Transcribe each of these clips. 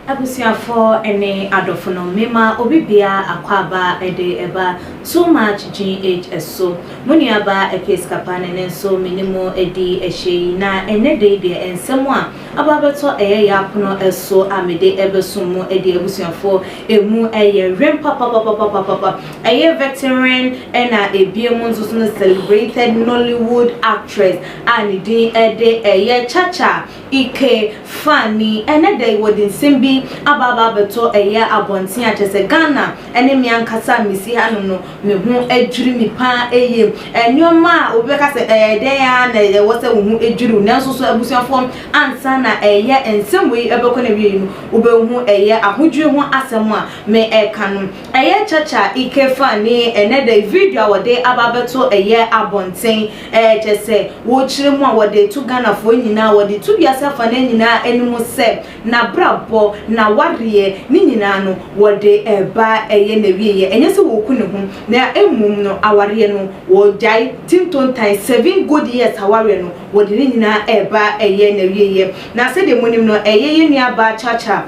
Abusuafo ne adɔfo no, mema obi biara akwaaba de ba too much GH so. Mo nuabaa Episkapane no nso me ne mo adi ahyia yi, na ɛnnɛ da yi deɛ nsɛm a Aba bɛtɔ ɛyɛ yɛ apono so a mede ɛbɛsom mo adi abusuafo ɛmu ɛyɛ wen papapapapapapa ɛyɛ veteran ɛna ɛbie mu nso so no celebrated Nollywood actress a ne din ɛde ɛyɛ Chacha Ike Fani ɛnɛ da yi wɔde nsɛm bi aba aba abɛtɔ ɛyɛ abɔnten a kyɛsɛ Ghana ɛne me ankasa a mesi hanom no, me ho adwiri me paa eye. Nneɛma a obi bɛka sɛ ɛyɛ dɛn ara na ɛwɔ sɛ wo ho dwiri wo, nanso so abusuafoɔ ansa na ɛyɛ nsɛm wei ɛbɛkɔ n'awieeɛ no, wobɛhu ɛyɛ ahodwiri ho asɛm a mereka no. Ɛyɛ Chacha Ikefah ne ɛnnɛ da yi video a wɔde aba abɛto ɛyɛ abɔnten, kyerɛ sɛ wɔrekyerɛ mu a wɔde reto Ghanafoɔ nyinaa, wɔde reto wiase afa no nyinaa anim sɛ, n'abrabɔ, n'awareɛ, ne nyinaa no wɔde ɛba ɛyɛ n'awieɛ. Ɛnyɛ sɛ wɔku ne ho na mmom no awareɛ no wɔgyae tintontan seven good years awareɛ no wɔde ne nyinaa ɛba ɛyɛ n'awieɛ. Na sɛdeɛ monim no ɛyɛ yɛn nua baa Chacha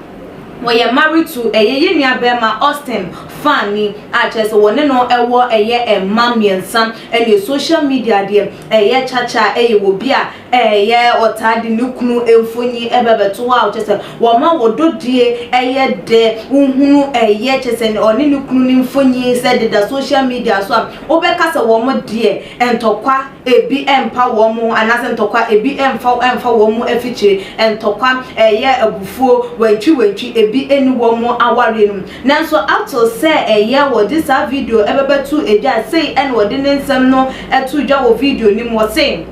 wɔyɛ married to ɛyɛ yɛn nua barima Austin Fani a kyerɛ sɛ wɔne no ɛwɔ ɛyɛ mma mmiɛnsa ɛneɛ social media deɛ ɛyɛ Chacha ɛyɛ obi a Ɛyɛ ɔtaa de ne kunu mfoni ɛbɛ bɛto hɔ a kyɛ sɛ wɔma wɔ dodie ɛyɛ dɛ wohunu ɛyɛ kyɛ sɛ ɔne ne kunu ne mfoni sɛ deda social media so a wobɛka sɛ wɔn deɛ ntɔkwa ebi ɛmpa wɔn ho anaasɛ ntɔkwa ebi ɛmfa ɛmfa wɔn mu afikyire ntɔkwa ɛyɛ abufuo wantwi wantwi ebi ɛni wɔn awareɛ no mu nanso ato sɛ ɛyɛ wɔde saa video ɛbɛbɛto dwa sei ɛna ɔde ne nsɛm no ɛto dwa wɔ video no mu ɔse.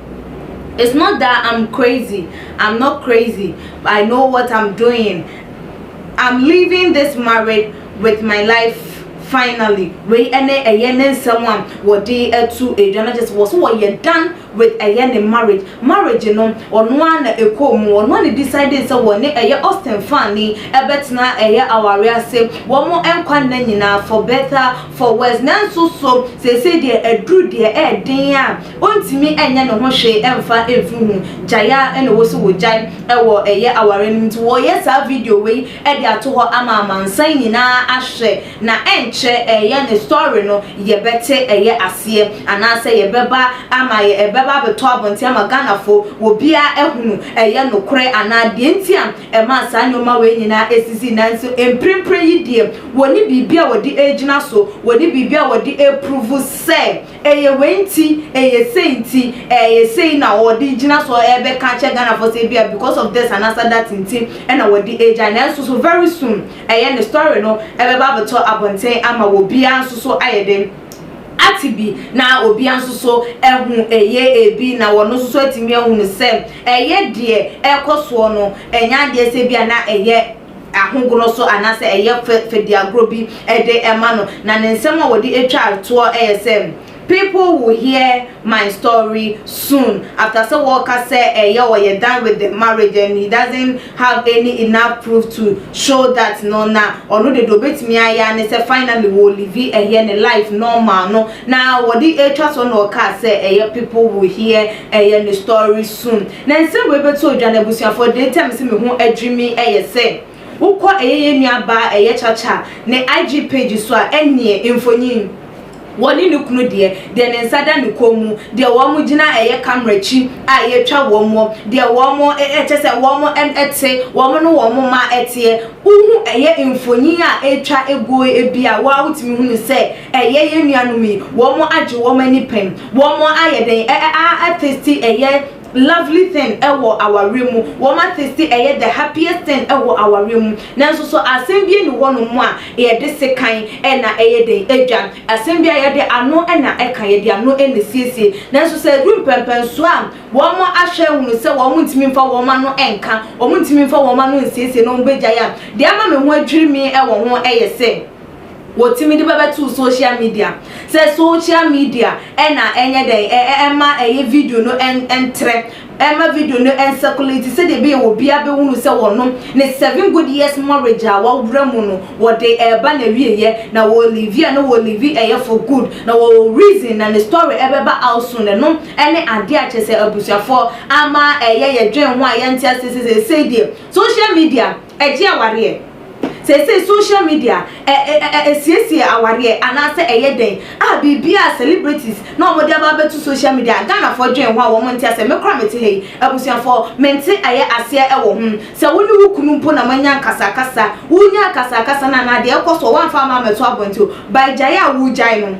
It's not that I'm crazy, I'm not crazy, but I know what I'm doing, I'm leaving this married with my life finally. Wei ɛne ɛyɛ ne nsɛm a wɔde atu adwa no kyɛ sɛ wɔ so wɔyɛ dan with ɛyɛ ne marriage. Marriage no ɔno ara na ɛkɔɔ mu, ɔno ara na decide sɛ wɔne ɛyɛ Austin Fani ɛbɛtena ɛyɛ awareɛ ase wɔn nkwa nna nyinaa for better for worse. Nanso so seesei deɛ aduru deɛ ɛɛden a Ontumi nyɛ ne ho hwee mfa mfiri ho, gyae ara na wɔsi wo gyae wɔ ɛyɛ aware no nti. Wɔreyɛ saa video wei de ato hɔ ama amansan nyinaa ahwɛ na ɛnkyɛ ɛyɛ ne story no yɛbɛte ɛyɛ aseɛ anaasɛ yɛbɛba ama yɛ ɛbɛba abɛtɔ abɔnten ama Ghanafoɔ obiara ahunu ɛyɛ nokorɛ anaa deɛ nti a ɛmaa saa nnoɔma wei nyinaa ɛsisii nanso mprempren yi deɛ wɔnni biribi a wɔde ɛregyina so, wɔnni biribi a wɔde ɛreprove sɛ Ɛyɛ wei nti, ɛyɛ sei nti, ɛyɛ sei na wɔde gyina so ɛrebɛka akyerɛ Ghanafoɔ sɛ ebia because of this anaasɛ that nti na wɔde agyae. Nanso so very soon ɛyɛ ne story no ɛbɛba abɛtɔ abɔnten ama obiara nso so ayɛ dɛn ate bi na obiara nso so ahu ɛyɛ ebi na wɔn nso so atumi ahunu sɛ ɛyɛ deɛ ɛrekɔ soɔ no ɛnyɛ adeɛ sɛ ebia na ɛyɛ ahogono so anaasɛ ɛyɛ fɛ fɛdiagorɔ bi de ma no, na ne nsɛm a wɔde twaa toɔ yɛ sɛ, People will hear my story soon after sɛ wɔreka sɛ ɛyɛ ɔyɛ done with the marriage and he doesn't have any enough proof to show that no, na ɔno deɛ deɛ ɔbɛtumi ayɛ ara ne sɛ finally wɔlivi ɛyɛ ne life normal no, na wɔde twa toɔ na ɔkaa sɛ ɛyɛ people will hear ɛyɛ ne story soon. Na nsɛm wei bɛto odwa, na abusuafoɔ de, nti a mese me ho adwiri me yɛ sɛ, wokɔ ɛyɛ yɛn nua baa ɛyɛ Chacha ne IG page so a, ɛnneɛ mfonin, wɔne ne kunu deɛ, deɛ ne nsa da ne kɔn mu, deɛ wɔn gyina ɛyɛ camera akyi a yɛretwa wɔn, deɛ wɔn, kyerɛ sɛ wɔn te, wɔn ne wɔn mma teɛ, wohu ɛyɛ mfonin a ɛretwa guo bi a, wo ara wotumi hunu sɛ Ɛyɛ yɛn nuanom yi, wɔn agye wɔn ani pɛn, wɔn ayɛ dɛn a atasti ɛyɛ lovely thing wɔ awareɛ mu, wɔn atasti ɛyɛ the happiest thing wɔ awareɛ mu, nanso so asɛm bi nni hɔ nom a yɛde sekan na ɛyɛ dɛn adwa, asɛm bi a yɛde ano na ɛka, yɛde ano na ɛsiesie, nanso sɛ ɛduru mpɛnpɛnsoɔ a wɔn ahwɛ ahunu sɛ wɔn ntumi mfa wɔn ano nka, wɔn ntumi mfa wɔn ano nsiesie na wɔn bɛgyae a, deɛ ama me ho adwiri me wɔ ho yɛ sɛ. Wɔtumi de bɛbɛto social media. Sɛ social media na ɛnyɛ dɛn ɛ ɛ ɛma ɛyɛ video no ɛn ɛntrɛ, ɛma video no ɛnsɛkulati sɛdeɛ ɛbɛyɛ obiara bɛhunu sɛ wɔno ne seven good years marriage a wɔaworɛ mu no wɔde reba n'awieɛ na wɔliivi a na wɔliivi ɛyɛ for good na wɔwɔ reason na ne story ɛbɛba out soon ɛno ɛne adeɛ a kyerɛ sɛ abusuafoɔ ama ɛyɛ yɛdwen ho a yɛnte aseɛ sɛ seesei deɛ social media Ɛgye awareɛ. Seesei social media ɛsiesie awareɛ anaasɛ ɛyɛ dɛn a biribiara a celebrities na wɔn de aba abɛto social media a Ghanafoɔ dwen ho a wɔn nte aseɛ me koraa mete ha yi abusuafoɔ mente ayɛ aseɛ ɛwɔ ho sɛ wo ne wo kunu mpo na mo anya nkasakasa wo nya akasakasa no anaa deɛ ɛkɔ soɔ wamfa ama ammɛto abɔnten o by gyae a wo gyae no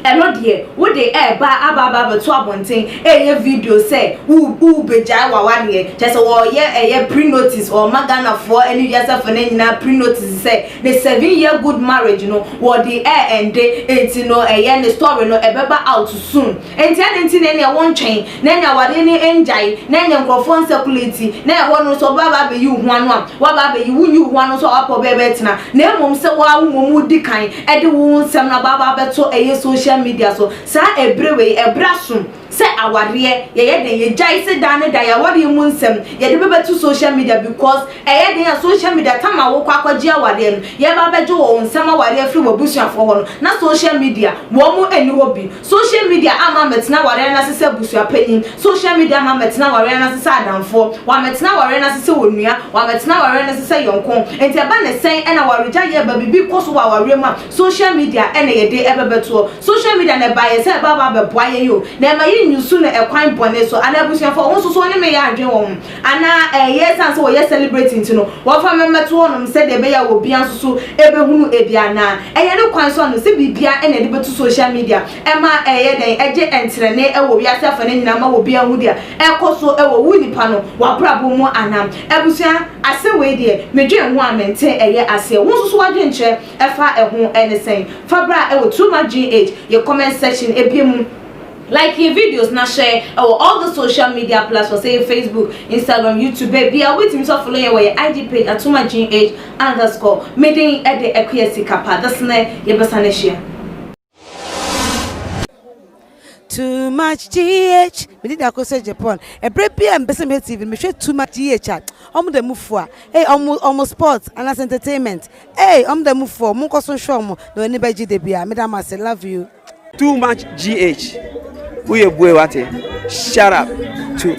Ɛno deɛ wode ɛɛba aba aba abɛto abɔnten ɛɛyɛ video sɛ wo wo bɛgyae wawadeɛ kyɛsɛ wɔɔyɛ ɛyɛ pre notice wɔɔma Ghanafoɔ ɛne wiasefoɔ no nyinaa pre notice sɛ ne seven year good marriage no wɔɔde ɛɛ ɛnde nti no ɛyɛ ne story no ɛbɛba out soon Enti adɛn nti na ɛnneɛ wontwɛn, na ɛnneɛ awadeɛ no ngyae, na ɛnneɛ nkurɔfoɔ ansakuleti, na ɛhɔ no nso ɔbaa baa abɛyi wo ho ano a, woaba abɛyi, wonyi wo ho ano nso a woapɛ ɔbɛyɛ bɛtena, na mmom sɛ wo ara wo mmom wodi kan de wo nsɛm no aba aba abɛto ɛyɛ social media so, saa ɛberɛ wei, ɛberɛ aso sɛ awadeɛ yɛyɛ dɛn, yɛgyae sɛ daa ne daa yɛ awadeɛ mu nsɛm yɛde bɛbɛto social media because ɛyɛ den a social media tam a wokɔ akɔgye awadeɛ no, yɛba abɛgye wo nsɛm awadeɛ afiri w'abusuafoɔ hɔ no, na social media wɔn nni hɔ bi. Social media ama mɛtena awareɛ no ase sɛ abusuapanyin, social media ama mɛtena awareɛ no ase sɛ adamfoɔ, wamɛtena awareɛ no ase sɛ onua, wamɛtena awareɛ no ase sɛ yɔnko, nti ɛba ne sɛn ɛna awaregyaeɛ ɛba, biribi kɔ so wɔ awareɛ mu a, social media ɛna yɛde ɛbɛbɛtoɔ, social media na ɛbaeɛ sɛ ɛba aba abɛboa yɛn o, na ɛma yɛnyi su no ɛkwan bɔne so, anaa abusuafoɔ wo nso so wɔne me yɛ adwene wɔ ho, Anaa ɛyɛ esiane sɛ wɔyɛ celebrate nti no wɔfa no mmɛto hɔnom sɛdeɛ ɛbɛyɛ a obia nso so bɛhunu ebi anaa ɛyɛ ne kwan so ano sɛ biribia na ɛde bɛto social media ɛma ɛyɛ dɛn ɛgye ntenenee wɔ wiase afa no nyinaa ma obia hu deɛ ɛkɔ so wɔ wo nipa no w'abrabɔ mu anaa abusua asɛm wei deɛ medwen ho a mente ɛyɛ aseɛ wo nso so w'adwenkyerɛ ɛfa ɛho ɛne sɛn fa bra wɔ Too Much GH yɛ comment section ɛbie mu Like yɛn videos na share ɛwɔ all the social media platforms ɛyɛ Facebook, Instagram, YouTube baabiara wobɛtumi nso afollow yɛn wɔ yɛn IG page Atuma Jean H underscore me din de Akua Sikapa this ne yɛbɛsan ahyia. too much gh mede da ko sɛ japan ɛberɛ bi a mepɛ sɛ mehwɛ tv no mehwɛ too much gh a ɔmo da mu fua ei ɔmo ɔmo sport anaasɛ entertainment ei ɔmo da mu fua ɔmo nkɔ so hwɛ ɔmo na ɔni bɛgye da bi a meda mo ase love you. Too much GH woyɛ bue wate shut up to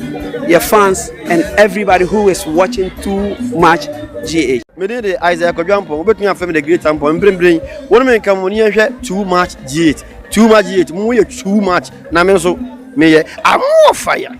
yɛ fans and everybody who is watching too much GH. Me din de Isaiah Kwadwo Ampong, wobɛtumi afrɛ me the great Ampong, mprempren wo ne me nka mmɔni yɛnhwɛ too much GH, too much GH, mo yɛ too much na me nso meyɛ, I'm more fire.